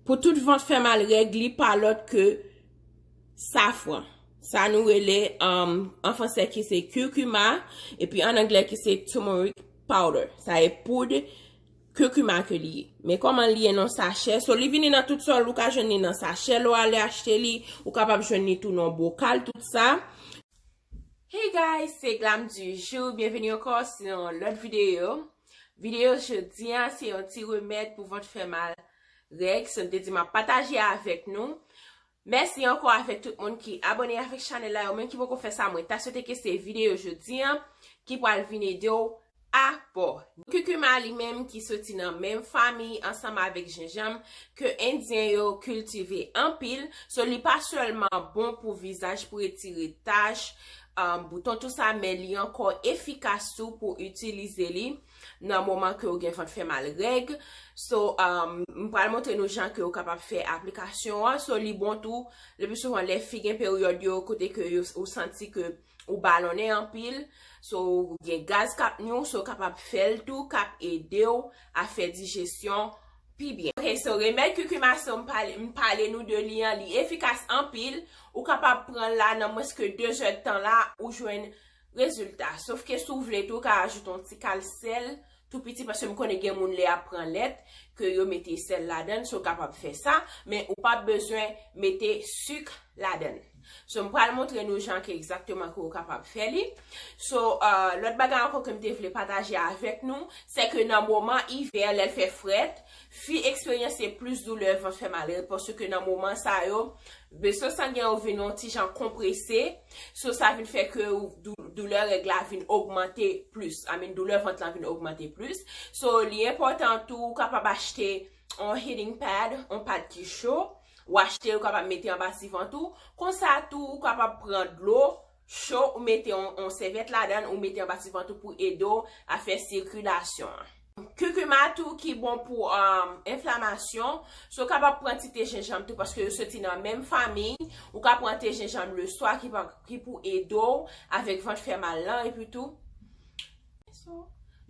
Pou tout vant fè mal règ li pa lòt ke safran. Sa nou rele an fransè ki se curcuma epi an anglè ki se turmeric powder. Sa e poud curcuma ke li ye. Men kòman li ye nan sachè. So li vini nan tout sòl ou ka jwenn li nan sachè lè w ale achte li. Ou kapab jwenn li tou nan bokal tout sa. Hey guys se Glam du jour byenveni ankò sou yon lòt videyo Videyo jodi an se yon ti remèd pou vant fè mal règ sa m te di map pataje avèk nou Mèsi ankò avèk tout moun ki abòne avèk chanèl la yo menm ki poko fè sa mwen ta swete ke se videyo jodi an ki pral vin ede w A. Pò, Kukuma li menm ki soti nan menm famiy ansanm avèk jenjanm ke endyen yo kiltive anpil, so li pa sèlman bon pou vizaj pou retire tach, bouton tou sa men li ankò efikas tou pou itilize li nan moman ke ou gen vant fè mal règ, so m pral montre nou jan ke ou kapab fè aplikasyon an, so li bon tou le pi souvan lè fi gen peryòd yo kote ke ou santi ke ou balonnen anpil, so gen gaz k ap nwi w, so w kapab fè l tou, k ap ede w a fè dijesyon pi byen. Ok, so remèd kikima so m pale m pale nou de li an, li efikas anpil, ou kapab pran l la nan mwens ke 2 zè tan la ou jwenn rezilta. Sof ke si w vle tou, ou ka ajoute yon ti kal sèl tou piti paske m konnen gen moun lè yap pran lèt ke yo mete sèl ladann so kapab fè sa men ou pap bezwen mete suk ladann so m pral montre nou jan ke egzakteman ke ou kapab fè li so lòt bagay ankò ke m te vle pataje avèk nou se ke nan moman ivè lè l fè frèt fi eksperyanse plis doulè vant fè mal paske nan moman sa yo veso sangen yo vin yon ti jan konprese. So sa vin fè ke ou, doulè règ la vin ogmante plis. I mean doulè vant lan vin ogmante plis. So li enpòtan tou ou kapab achte yon heating pad, yon pad ki cho. Ou achte l ou kapab mete anba ti vant ou. Konsa tou ou kapab pran dlo cho ou mete yon sèvyèt ladan l ou mete anba ti vant ou pou ede w a fè sikilasyon an. Kukuma tou ki bon pou enflamasyon, so w kapab pran ti te jenjanm tou paske yo soti nan menm famiy, ou ka pran te jenjanm le swa ki pou ede w avèk vant fè mal lan epi tou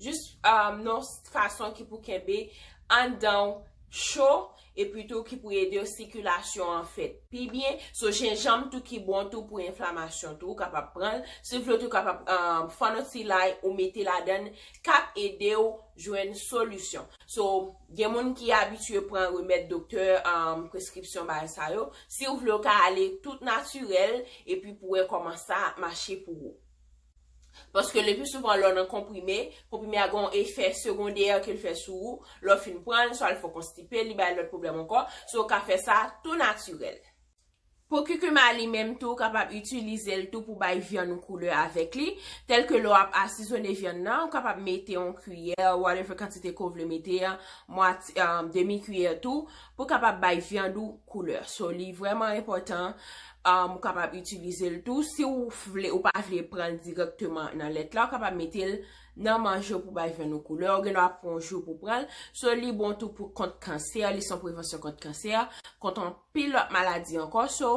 jis yon fason ki pou kenbe anndan w cho epi tou ki pou ede sikilasyon an fèt pi byen, so jenjanm tou ki bon tou pou enflamasyon tou ou kapab pranl, si vle tou kapab fòno ti lay ou mete ladann kap edew jwenn solisyon, so gen moun ki abitye pran remèd doktè preskripsyon bay sa yo, siw vle ou ka ale tout natirèl epi pou wè kòman sa ap mache pou ou. Paske le pli souvan lè w nan konprime, konprime a gen yon efè segondè ke l fè sou ou, lè w fin pran l, swa l fè w konstipe, li bay lòt pwoblèm ankò, so w ka fè sa tou natirèl. Pou kikima li menm tou, ou kapab itilize l tou pou bay vyann ou koulè avèk li, tèlke lè w ap asizone vyann nan, ou kapab mete yon kiyè, whatever kantite ke w vle mete an, mwatye, demi kiyè tou, Pou kapab bay vyann ou koulè. So li vreman enpotan ou kapab itilize l tou. Si ou vle ou pa vle pran l direkteman nan lèt la ou kapab mete l nan manje ou pou bay vyann ou koulè. Ou gen dwa pran yon jou pou pran l. So li bon tou pou kont kansè. Li son prevansyon kont kansè. Kont an pil lot maladi anko. So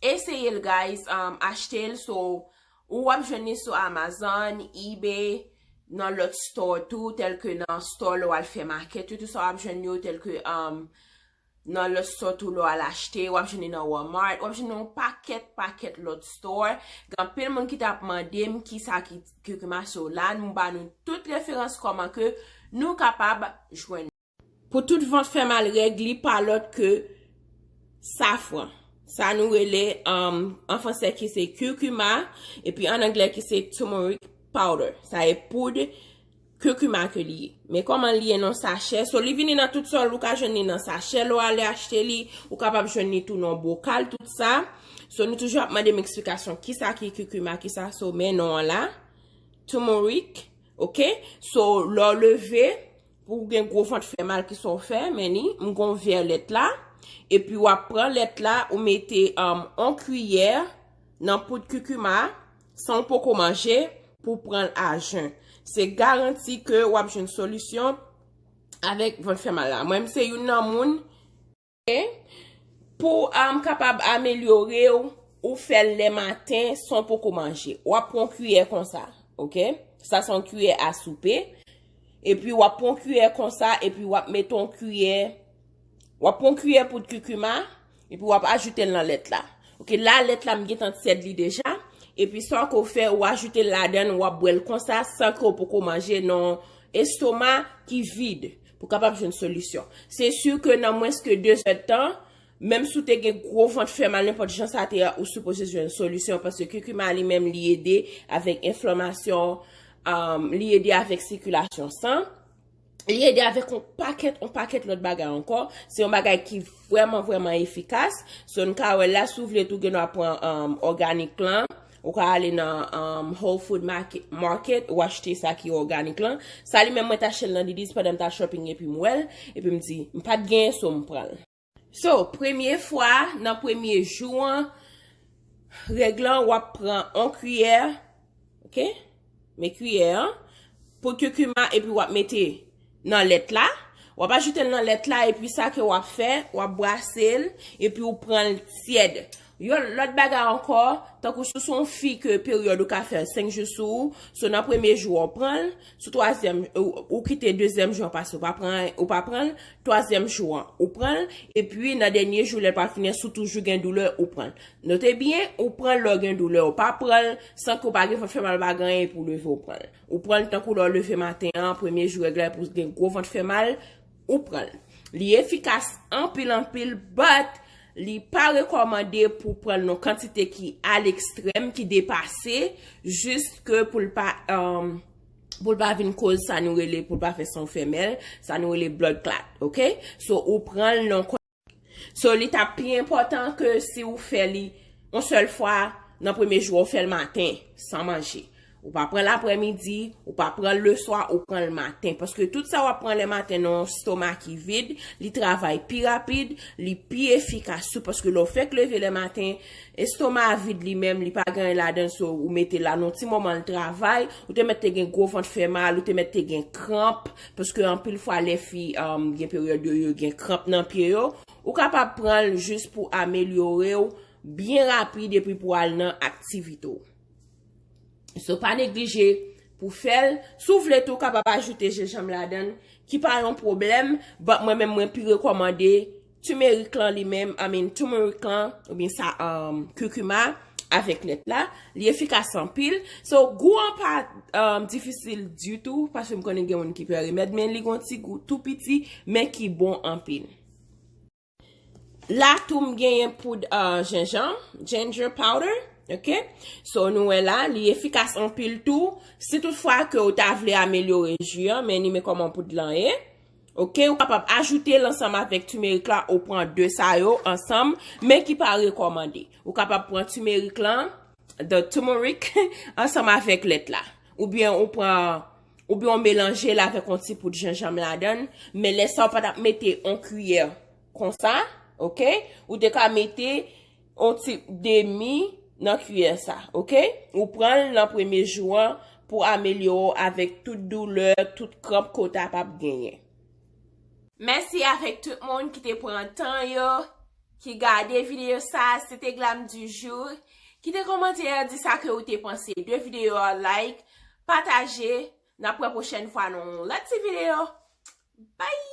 eseye l guys. Achte l so. Ou wap jwenn li sou Amazon, Ebay, nan lòt store tou tèlke nan store lè wal fè market yo tou sa wap jwenn yo tèlke um nan lòt store tou lè wal achte wap jwenn li nan Walmart wap jwenn li yon pakèt pakèt lòt store gen anpil moun ki tap mandem kisa ki ki mache yo la nou ba nou tout referans kòman ke nou kapab jwenn Pou tout vant fè mal règ li pa lòt ke safran. Sa nou rele an fransè ki se curcuma epi an anglè ki se turmeric powder. Sa e poud curcuma ke li ye. Men kòman li ye nan sachè. So li vini nan tout sòl ou ka jwenn li nan sachè lè w ale achte li. Ou kapab jwenn li tou nan bokal tout sa. So nou toujou ap mande m eksplikasyon ki sa ki curcuma ki sa. So men non an la. Turmeric. Ok. So lè w leve. Pou gen gwo vant fè mal ki sa w fè menni m gon vè lèt la epi wap pran lèt la ou mete on kiyè nan poud kikima san w poko manje pou w pran l a jen se garanti ke wap jwenn solisyon avèk vant fè mal la mwen m se youn nan moun Pou ou kapab amelyore ou, ou fè l le maten san pou kou manje. Ou ap pran kiyè konsa. Ok? Sa son kiyè a soupe. E pi ou ap pran kiyè konsa. E pi ou ap met on kiyè. Ou ap pran kiyè poud kikuma. E pi ou ap ajoute l nan lèt la. Ok? La lèt la m gen tan tièd li deja. E pi sa kou fè ou ajoute l ladan. Ou ap bwè l konsa san kou pou kou manje. Non estoma ki vide. Pou kapab jwenn solisyon. Se su ke nan mwens ke 2 zè tan, menm sou te gen gwo vant fè mal nenpòt jan sa te a ou sipoze jwenn solisyon paske kikuma li menm li ede avèk enflamasyon, li ede avèk sikilasyon san, li ede avèk on pakèt, on pakèt lòt bagay ankò. Se yon bagay ki vwèman vwèman efikas. So n ka wè la, si w vle tou gen dwa pran òganik lan. Ou ka ale nan whole food market ou achte sa ki organik lan. Sa li menm mwen ta chel nan Didis pandan m ta shopping epi m wèl. Epi m di m pat gen so m pranl. So premye fwa nan premye jou an règ lan wap pran on kuyè ok. Men kiyè an pou kikuma epi wap mete nan lèt la. Wap ajoute l nan lèt la epi sa ke wap fè, wap brase l epi ou pran l tyèd. Yon lòt bagay ankò, tankou si w se yon fi ke peryòd ou ka fè 5 jou sou ou, so nan premye jou an ou pran l, sou twazyèm ou kite dezyèm jou an pase ou pa pran ou pa pran l, twazyèm jou an ou pran l, epi nan dènye jou lè l pral fini an si w toujou gen doulè ou pran l. Note byen, ou pran l lè w gen doulè, ou pa pran l san ke w pa gen vant fè mal pa gen anyen pou w leve w pran l. Ou pran l tankou lè w leve maten an, premye jou règ la epi w gen gwo vant fè mal, ou pran l. Li efikas anpil anpil but li pa rekòmande pou w pran l nan kantite ki a lekstrèm, ki depase, just ke pou l pa pou l pa vin koz sa nou rele pou l pa fè san w fè mèl, sa nou rele blood clot, ok. So ou pran l nan. So li tap pi enpòtan ke si ou fè li yon sèl fwa nan premye jou a ou fèl maten san manje. Ou pa pranl aprè midi, ou pa pranl le swa, ou pranl maten. Paske tout sa wap pran le maten nan yon stoma ki vid, li travay pi rapid, li pi efikas tou paske lè ou fèk leve le maten, estoma a vid li menm, li pa gen anyen ladann so ou mete la nan yon ti moman li travay, ou te mèt te gen gwo vant fè mal, ou te mèt te gen kranp, Paske anpil fwa lè fi gen peryòd yo yo gen kranp nan pye yo, ou kapab pran l jis pou amelyore w byen rapid epi pou al nan aktivite w. So pa neglije pou fè l, si w vle tou ou kapab ajoute jenjanm ladan l ki pa yon pwoblèm, but mwen menm mwen pi rekòmande Timerik lan li menm, I mean turmeric lan, oubyen sa curcuma avèk lèt la, li efikas anpil. So, gou an pa difisil ditou, paske m konnen gen moun ki pè remèd, men li gon ti gou tou piti, men ki bon anpil. La tou m genyen poud jenjanm, ginger powder, ok. So, nou wè la, li efikas anpil tou, si tout fwa ke ou ta vle amelyore ju an, men ni men kòman poud lan ye. Ok ou kapab ajoute l ansanm avèk timerik la ou pran 2 sa yo ansanm men ki pa rekòmande ou kapab pran timerik lan the tumeric ansanm avèk lèt la ou byen ou pran ou byen ou melanje l avèk yon ti poud jenjanm ladann men lè sa ou pa tap mete yon kiyè konsa ok ou te ka mete On ti demi nan kiyè sa, ok? Ou pran l nan premye jou an pou amelyore w avèk tout doulè, tout kranp ke w ta pap genyen. Mèsi avèk tout moun ki te pran tan yo, ki gade videyo sa, se te Glam du jour. Kite komantè a di sa ke ou te panse de videyo a, like, pataje, n ap wè pwochèn fwa nan yon lòt ti videyo. Bye!